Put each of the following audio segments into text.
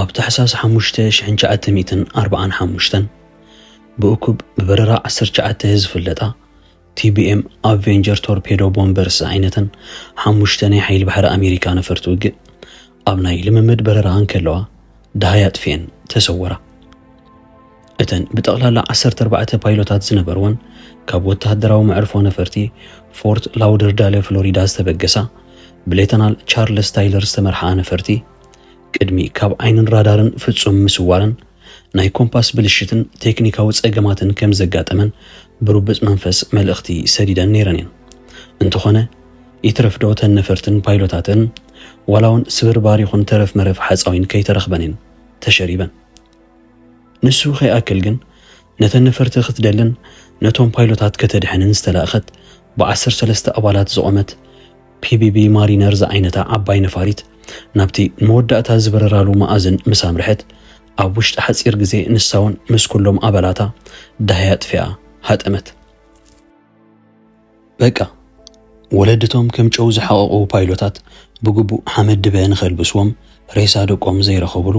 ኣብ ታሕሳስ ሓሙሽተ ሽሕን ትሽዓተ ሚእትን ኣርብዓን ሓሙሽተን ብእኩብ ብበረራ ዓሰርተ ትሽዓተ ዝፍለጣ ቲቢኤም ኣቬንጀር ቶርፔዶ ቦምበርስ ዝዓይነተን ሓሙሽተ ናይ ሓይሊ ባሕሪ ኣሜሪካ ነፈርቲ ውግእ ኣብ ናይ ልምምድ በረራ እንከለዋ ደሃይ ኣጥፊኤን ተሰወራ። እተን ብጠቕላላ ዓሰርተ ኣርባዕተ ፓይሎታት ዝነበርወን ካብ ወተሃደራዊ መዕርፎ ነፈርቲ ፎርት ላውደርዳለ ፍሎሪዳ ዝተበገሳ ብሌተናል ቻርልስ ታይለር ዝተመርሓ ነፈርቲ ቅድሚ ካብ ዓይንን ራዳርን ፍጹም ምስዋረን ናይ ኮምፓስ ብልሽትን ቴክኒካዊ ጸገማትን ከም ዘጋጠመን ብርቡጽ መንፈስ መልእኽቲ ሰዲደን ነይረን እየን እንተኾነ ይትረፍ ዶ እተን ነፈርትን ፓይሎታትን ዋላ እውን ስብርባር ይኹን ተረፍ መረፍ ሓፃዊን ከይተረኽበን እየን ተሸሪበን ንሱ ከይኣክል ግን ነተን ነፈርቲ ክትደልን ነቶም ፓይሎታት ከተድሕንን ዝተላእከት ብዓሰርተ ሰለስተ ኣባላት ዝቖመት ፒቢቢ ማሪነር ዝዓይነታ ዓባይ ነፋሪት ናብቲ ንመወዳእታ ዝበረራሉ መኣዝን ምስ ኣምርሐት ኣብ ውሽጢ ሓጺር ግዜ ንሳውን ምስ ኩሎም ኣባላታ ዳህያ ኣጥፊኣ ሃጠመት። በቃ ወለድቶም ከም ጨው ዝሓቐቑ ፓይሎታት ብግቡእ ሓመድ ድበ ንኸልብስዎም ሬሳ ደቆም ዘይረኸብሉ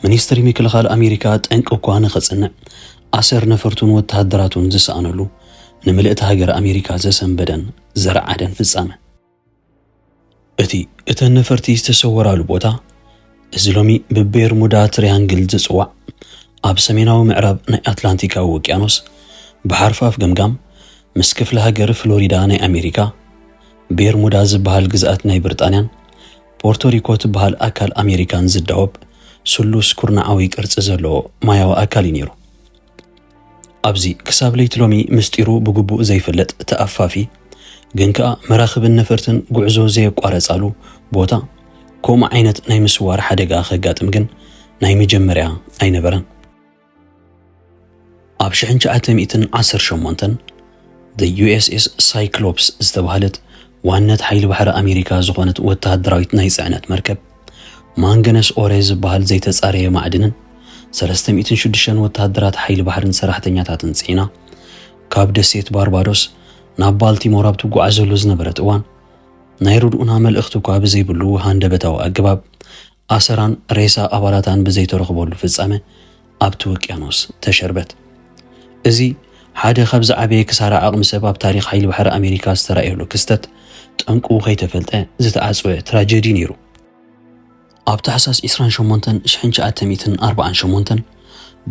ሚኒስትሪ ምክልኻል ኣሜሪካ ጠንቂ እኳ ንኸጽንዕ ኣሰር ነፈርቱን ወተሃደራቱን ዝሰኣነሉ ንምልእቲ ሃገር ኣሜሪካ ዘሰንበደን ዘረዓደን ፍጻመ እቲ እተን ነፈርቲ ዝተሰወራሉ ቦታ እዚ ሎሚ ብቤርሙዳ ትሪያንግል ዝጽዋዕ ኣብ ሰሜናዊ ምዕራብ ናይ ኣትላንቲካዊ ውቅያኖስ ብሓርፋፍ ገምጋም ምስ ክፍለ ሃገር ፍሎሪዳ ናይ ኣሜሪካ ቤርሙዳ ዝበሃል ግዝኣት ናይ ብሪጣንያን ፖርቶሪኮ ትበሃል ኣካል ኣሜሪካን ዝዳወብ ስሉስ ኩርናዓዊ ቅርጺ ዘለዎ ማያዊ ኣካል እዩ ነይሩ። ኣብዚ ክሳብ ለይቲ ሎሚ ምስጢሩ ብግቡእ ዘይፍለጥ ተኣፋፊ ግን ከኣ መራኽብን ነፈርትን ጉዕዞ ዘየቋረጻሉ ቦታ ከምኡ ዓይነት ናይ ምስዋር ሓደጋ ከጋጥም ግን ናይ መጀመርያ ኣይነበረን። ኣብ 1918 ዘ ዩኤስኤስ ሳይክሎፕስ ዝተባህለት ዋነት ሓይሊ ባሕሪ ኣሜሪካ ዝኾነት ወተሃደራዊት ናይ ጽዕነት መርከብ ማንገነስ ኦረ ዝበሃል ዘይተጻረየ ማዕድንን ሰለስተ ሚእትን ሽዱሽተን ወተሃደራት ሓይሊ ባሕርን ሰራሕተኛታትን ጽዒና ካብ ደሴት ባርባዶስ ናብ ባልቲሞር ኣብ ትጓዓዘሉ ዝነበረት እዋን ናይ ርድኡና መልእኽቲ እኳ ብዘይብሉ ሃንደበታዊ ኣገባብ ኣሰራን ሬሳ ኣባላታን ብዘይተረኽበሉ ፍጻመ ኣብቲ ውቅያኖስ ተሸርበት። እዚ ሓደ ካብ ዝዓበየ ክሳራ ዓቕሚ ሰብ ኣብ ታሪኽ ሓይሊ ባሕሪ ኣሜሪካ ዝተራእየሉ ክስተት፣ ጠንቁ ከይተፈልጠ ዝተዓጽወ ትራጀዲ ነይሩ። ኣብ ታሕሳስ ዕስራን ሸሞንተን ሽሕን ትሽዓተ ሚእትን ኣርብዓን ሸሞንተን፣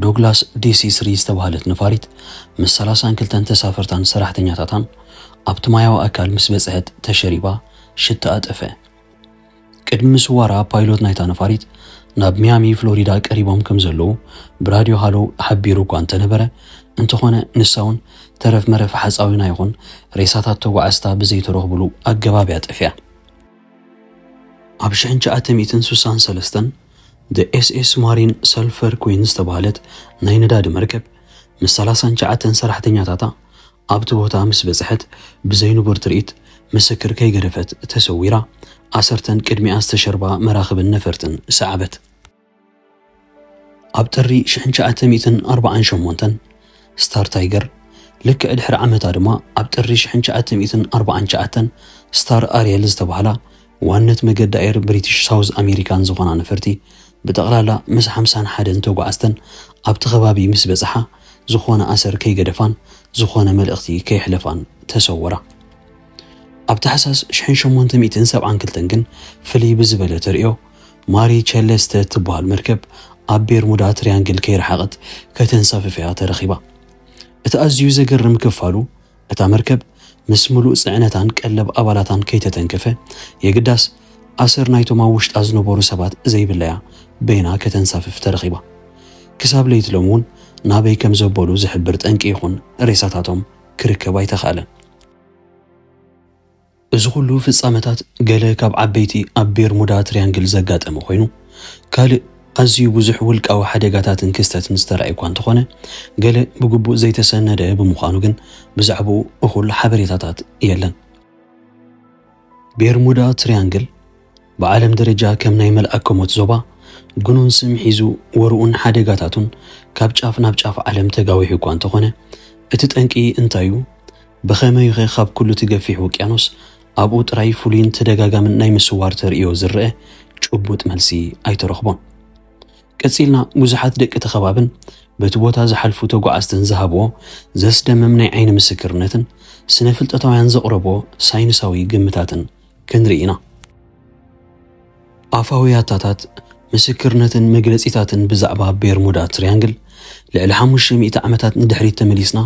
ዶግላስ ዲሲ ስሪ ዝተባህለት ነፋሪት ምስ ሰላሳን ክልተን ተሳፈርታን ሰራሕተኛታታን ኣብቲ ማያዊ ኣካል ምስ በጽሐት ተሸሪባ ሽትኣ ጠፍኣ። ቅድሚ ስዋራ ፓይሎት ናይታ ነፋሪት ናብ ሚያሚ ፍሎሪዳ ቀሪቦም ከም ዘለዉ ብራድዮ ሃሎ ሓቢሩ እኳ እንተነበረ እንተኾነ ንሳ እውን ተረፍ መረፍ ሓፃዊና ይኹን ሬሳታት ተጓዓዝታ ብዘይተረኽብሉ ኣገባብ እያ ጠፊኣ። ኣብ ሽሕን ትሽዓተ ሚእትን ስሳን ሰለስተን The SS Marine Sulphur Queen ዝተባህለት ናይ ነዳዲ መርከብ ምስ ሰላሳን ትሽዓተን ሰራሕተኛታታ ኣብቲ ቦታ ምስ በጽሐት ብዘይንቡር ትርኢት ምስክር ከይገደፈት ተሰዊራ፣ ኣሰርተን ቅድሚኣ ዝተሸርባ መራኽብን ነፈርትን ሰዓበት። ኣብ ጥሪ ሽሕን ትሽዓተ ሚእትን ኣርባዓን ሸሞንተን፣ ስታር ታይገር፣ ልክዕ ድሕሪ ዓመታ ድማ ኣብ ጥሪ ሽሕን ትሽዓተ ሚእትን ኣርባዓን ትሽዓተን ስታር ኣርየል ዝተባህላ ዋነት መገዲ ኣየር ብሪቲሽ ሳውዝ ኣሜሪካን ዝኾና ነፈርቲ ብጠቕላላ ምስ ሓምሳን ሓደን ተጓዓዝተን ኣብቲ ከባቢ ምስ በጽሓ ዝኾነ ኣሰር ከይገደፋን ዝኾነ መልእኽቲ ከየሕለፋን ተሰወራ። ኣብ ታሕሳስ ሽሕን ሸሞንተ ሚእትን ሰብዓን ክልተን ግን ፍልይ ብዝበለ ተርእዮ ማሪ ቸለስተ እትበሃል መርከብ ኣብ ቤርሙዳ ትሪያንግል ከይረሓቐት ከተንሳፍፍያ ተረኺባ። እቲ ኣዝዩ ዘገርም ክፋሉ እታ መርከብ ምስ ምሉእ ጽዕነታን ቀለብ ኣባላታን ከይተተንከፈ፣ የግዳስ ኣሰር ናይቶም ኣብ ውሽጣ ዝነበሩ ሰባት ዘይብላ'ያ በይና ከተንሳፍፍ ተረኺባ። ክሳብ ለይቲ ሎሚ'ውን ናበይ ከም ዘበሉ ዝሕብር ጠንቂ ይኹን ሬሳታቶም ክርከብ ኣይተኻእለን። እዚ ኹሉ ፍጻመታት ገለ ካብ ዓበይቲ ኣብ ቤርሙዳ ትርያንግል ዘጋጠመ ኮይኑ፣ ካልእ ኣዝዩ ብዙሕ ውልቃዊ ሓደጋታትን ክስተትን ዝተራእየ እኳ እንተኾነ፣ ገለ ብግቡእ ዘይተሰነደ ብምዃኑ ግን ብዛዕባኡ እኹል ሓበሬታታት የለን። ቤርሙዳ ትርያንግል፣ ብዓለም ደረጃ ከም ናይ መልኣከ-ሞት ዞባ ግኑን ስም ሒዙ ወርኡን ሓደጋታቱን ካብ ጫፍ ናብ ጫፍ ዓለም ተጋዊሑ እኳ እንተኾነ፣ እቲ ጠንቂ እንታይ እዩ? ብኸመይ'ኸ ካብ ኩሉ'ቲ ገፊሕ ውቅያኖስ ኣብኡ ጥራይ ፍሉይን ተደጋጋምን ናይ ምስዋር ተርእዮ ዝረኣ ጭቡጥ መልሲ ኣይተረኽቦን። ቀጺልና ብዙሓት ደቂ'ቲ ከባብን በቲ ቦታ ዝሓልፉ ተጓዓዝትን ዝሃብዎ ዘስደምም ናይ ዓይኒ ምስክርነትን ስነ-ፍልጠታውያን ዘቕረብዎ ሳይንሳዊ ግምታትን ክንርኢ ኢና። ኣፋዊ ያታታት፣ ምስክርነትን መግለጺታትን ብዛዕባ ቤርሙዳ ትርያንግል ልዕሊ ሓሙሽተ ሚእቲ ዓመታት ንድሕሪት ተመሊስና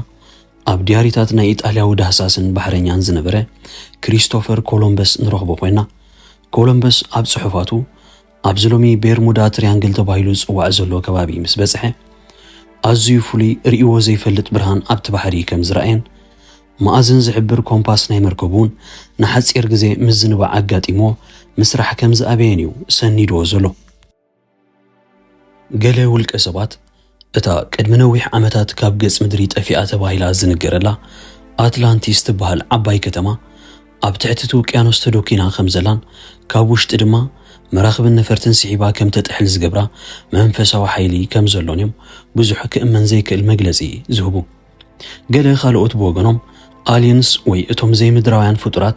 ኣብ ድያሪታት ናይ ኢጣልያዊ ዳህሳስን ባሕረኛን ዝነበረ ክሪስቶፈር ኮሎምበስ ንረኽቦ ኮይና። ኮሎምበስ ኣብ ጽሑፋቱ ኣብዚ ሎሚ ቤርሙዳ ትርያንግል ተባሂሉ ዝጽዋዕ ዘሎ ከባቢ ምስ በጽሐ ኣዝዩ ፍሉይ ርእይዎ ዘይፈልጥ ብርሃን ኣብቲ ባሕሪ ከም ዝረኣየን መኣዝን ዝሕብር ኮምፓስ ናይ መርከቡን ንሓጺር ግዜ ምዝንባዕ ኣጋጢምዎ ምስራሕ ከም ዝኣበየን እዩ ሰኒድዎ ዘሎ። ገለ ውልቀሰባት፣ እታ ቅድሚ ነዊሕ ዓመታት ካብ ገጽ ምድሪ ጠፊኣ ተባሂላ ዝንገረላ ኣትላንቲስ ትበሃል ዓባይ ከተማ፣ ኣብ ትሕቲ እቲ ውቅያኖስ ተዶኪና ከም ዘላን ካብ ውሽጢ ድማ መራኽብን ነፈርትን ስሒባ ከም ተጥሕል ዝገብራ መንፈሳዊ ሓይሊ ከም ዘሎን እዮም ብዙሕ ክእመን ዘይክእል መግለጺ ዝህቡ። ገለ ካልኦት ብወገኖም ኣልየንስ ወይ እቶም ዘይምድራውያን ፍጡራት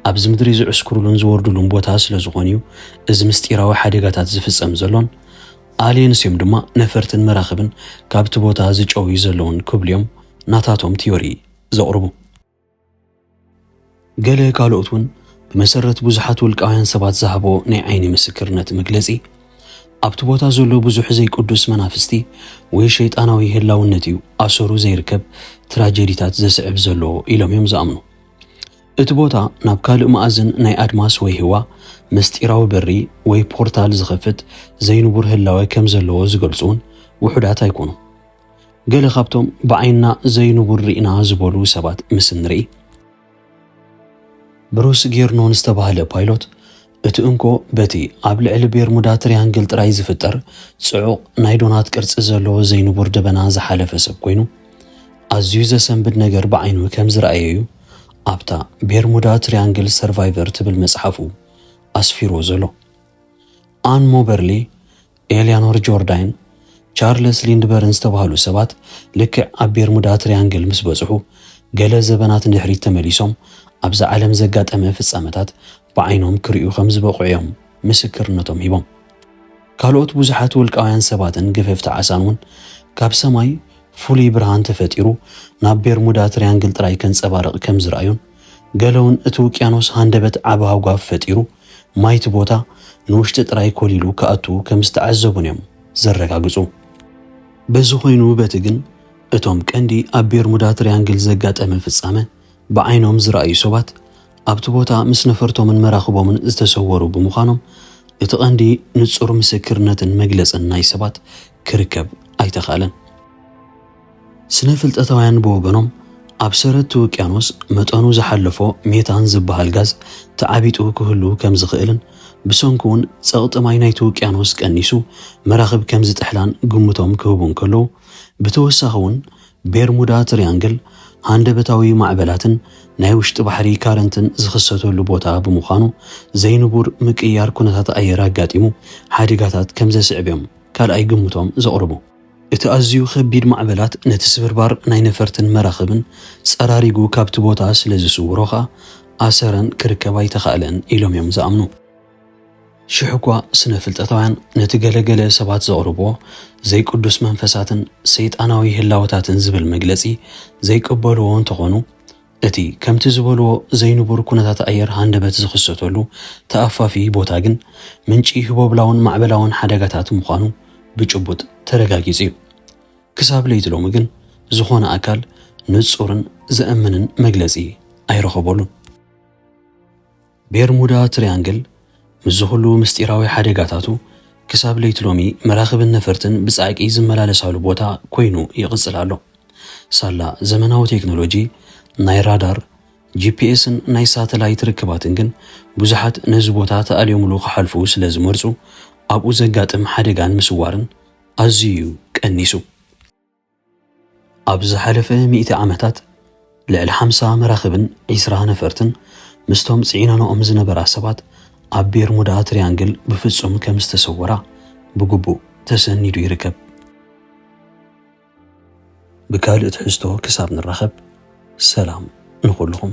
ኣብዚ ምድሪ ዝዕስክሩሉን ዝወርዱሉን ቦታ ስለ ዝኾኑ እዩ እዚ ምስጢራዊ ሓደጋታት ዝፍጸም ዘሎን ኣልየንስ እዮም ድማ ነፈርትን መራኽብን ካብቲ ቦታ ዝጨውዩ ዘለውን ክብሉ እዮም ናታቶም ቲዮሪ ዘቕርቡ። ገለ ካልኦት እውን ብመሰረት ብዙሓት ውልቃውያን ሰባት ዝሃቦ ናይ ዓይኒ ምስክርነት መግለጺ ኣብቲ ቦታ ዘሎ ብዙሕ ዘይቅዱስ መናፍስቲ ወይ ሸይጣናዊ ህላውነት እዩ ኣሰሩ ዘይርከብ ትራጀዲታት ዘስዕብ ዘሎ ኢሎም እዮም ዝኣምኑ እቲ ቦታ ናብ ካልእ መኣዝን ናይ ኣድማስ ወይ ህዋ ምስጢራዊ በሪ ወይ ፖርታል ዝኸፍት ዘይንቡር ህላወ ከም ዘለዎ ዝገልጹ እውን ውሑዳት ኣይኮኑ ገለ ካብቶም ብዓይንና ዘይንቡር ርኢና ዝበሉ ሰባት ምስ እንርኢ፣ ብሩስ ጌርኖን ዝተባህለ ፓይሎት፣ እቲ እንኮ በቲ ኣብ ልዕሊ ቤርሙዳ ትርያንግል ጥራይ ዝፍጠር ጽዑቕ ናይ ዶናት ቅርጺ ዘለዎ ዘይንቡር ደበና ዝሓለፈ ሰብ ኮይኑ፣ ኣዝዩ ዘሰንብድ ነገር ብዓይኑ ከም ዝረኣየ'ዩ ኣብታ ቤርሙዳ ትርያንግል ሰርቫይቨር ትብል መጽሓፉ ኣስፊርዎ ዘሎ። ኣን ሞበርሊ ኤልያኖር ጆርዳይን ቻርለስ ሊንድበርን ዝተባህሉ ሰባት ልክዕ ኣብ ቤርሙዳ ትርያንግል ምስ በጽሑ ገለ ዘበናት ንድሕሪት ተመሊሶም ኣብዛ ዓለም ዘጋጠመ ፍጻመታት ብዓይኖም ክርእዩ ከም ዝበቕዑ እዮም ምስክርነቶም ሂቦም። ካልኦት ብዙሓት ውልቃውያን ሰባትን ገፈፍቲ ዓሳን እውን ካብ ሰማይ ፍሉይ ብርሃን ተፈጢሩ ናብ ቤርሙዳ ትርያንግል ጥራይ ከንጸባርቕ ከም ዝረኣዩን ገለውን እቲ ውቅያኖስ ሃንደበት ዓቢ ሃጓፍ ፈጢሩ ማይ'ቲ ቦታ ንውሽጢ ጥራይ ኮሊሉ ክኣቱ ከም ዝተዓዘቡን'ዮም ዘረጋግጹ። በዚ ኮይኑ በቲ ግን እቶም ቀንዲ ኣብ ቤርሙዳ ትርያንግል ዘጋጠመ ፍጻመ ብዓይኖም ዝረኣዩ ሰባት ኣብቲ ቦታ ምስ ነፈርቶምን መራኽቦምን ዝተሰወሩ ብምዃኖም እቲ ቀንዲ ንጹር ምስክርነትን መግለጽን ናይ ሰባት ክርከብ ኣይተኻእለን። ስነ ፍልጠታውያን ብወገኖም ኣብ ሰረትቲ ውቅያኖስ መጠኑ ዝሓለፎ ሜታን ዝበሃል ጋዝ ተዓቢጡ ክህሉ ከም ዝኽእልን ብሰንኩ'ውን ጸቕጢ ማይ ናይቲ ውቅያኖስ ቀኒሱ መራኽብ ከም ዝጥሕላን ግምቶም ክህቡ እንከለዉ ብተወሳኺ'ውን ቤርሙዳ ትርያንግል ሃንደበታዊ ማዕበላትን ናይ ውሽጢ ባሕሪ ካረንትን ዝኽሰተሉ ቦታ ብምዃኑ ዘይንቡር ምቅይያር ኩነታት ኣየር ኣጋጢሙ ሓደጋታት ከም ዘስዕብ'ዮም ካልኣይ ግምቶም ዘቕርቡ። እቲ ኣዝዩ ከቢድ ማዕበላት ነቲ ስብርባር ናይ ነፈርትን መራኽብን ጸራሪጉ ካብቲ ቦታ ስለ ዝስውሮ ከኣ ኣሰረን ክርከብ ኣይተኻእለን ኢሎም እዮም ዝኣምኑ። ሽሕ'ኳ ስነ-ፍልጠታውያን ነቲ ገለ ገለ ሰባት ዘቕርብዎ ዘይቅዱስ መንፈሳትን ሰይጣናዊ ህላወታትን ዝብል መግለጺ ዘይቅበልዎ እንተኾኑ፣ እቲ ከምቲ ዝበልዎ ዘይንቡር ኩነታት ኣየር ሃንደበት ዝኽሰተሉ ተኣፋፊ ቦታ ግን ምንጪ ህቦብላውን ማዕበላውን ሓደጋታት ምዃኑ ብጭቡጥ ተረጋጊጹ እዩ። ክሳብ ለይቲ ሎሚ ግን ዝኾነ ኣካል ንጹርን ዘእምንን መግለጺ ኣይረኸበሉን። ቤርሙዳ ትርያንግል ምስዚ ኹሉ ምስጢራዊ ሓደጋታቱ ክሳብ ለይቲ ሎሚ መራኽብን ነፈርትን ብጻዕቂ ዝመላለሳሉ ቦታ ኮይኑ ይቕጽል ኣሎ። ሳላ ዘመናዊ ቴክኖሎጂ ናይ ራዳር፣ ጂፒኤስን ናይ ሳተላይት ርክባትን ግን ብዙሓት ነዚ ቦታ ተኣልዮምሉ ክሓልፉ ስለ ዝመርጹ ኣብኡ ዘጋጥም ሓደጋን ምስዋርን ኣዝዩ እዩ ቀኒሱ። ኣብ ዝሓለፈ ሚእቲ ዓመታት ልዕሊ ሓምሳ መራኽብን ዒስራ ነፈርትን ምስቶም ጽዒነንኦም ዝነበራ ሰባት ኣብ ቤርሙዳ ትሪያንግል ብፍጹም ከም ዝተሰወራ ብግቡእ ተሰኒዱ ይርከብ። ብካልእ ትሕዝቶ ክሳብ ንራኸብ ሰላም ንኹልኹም።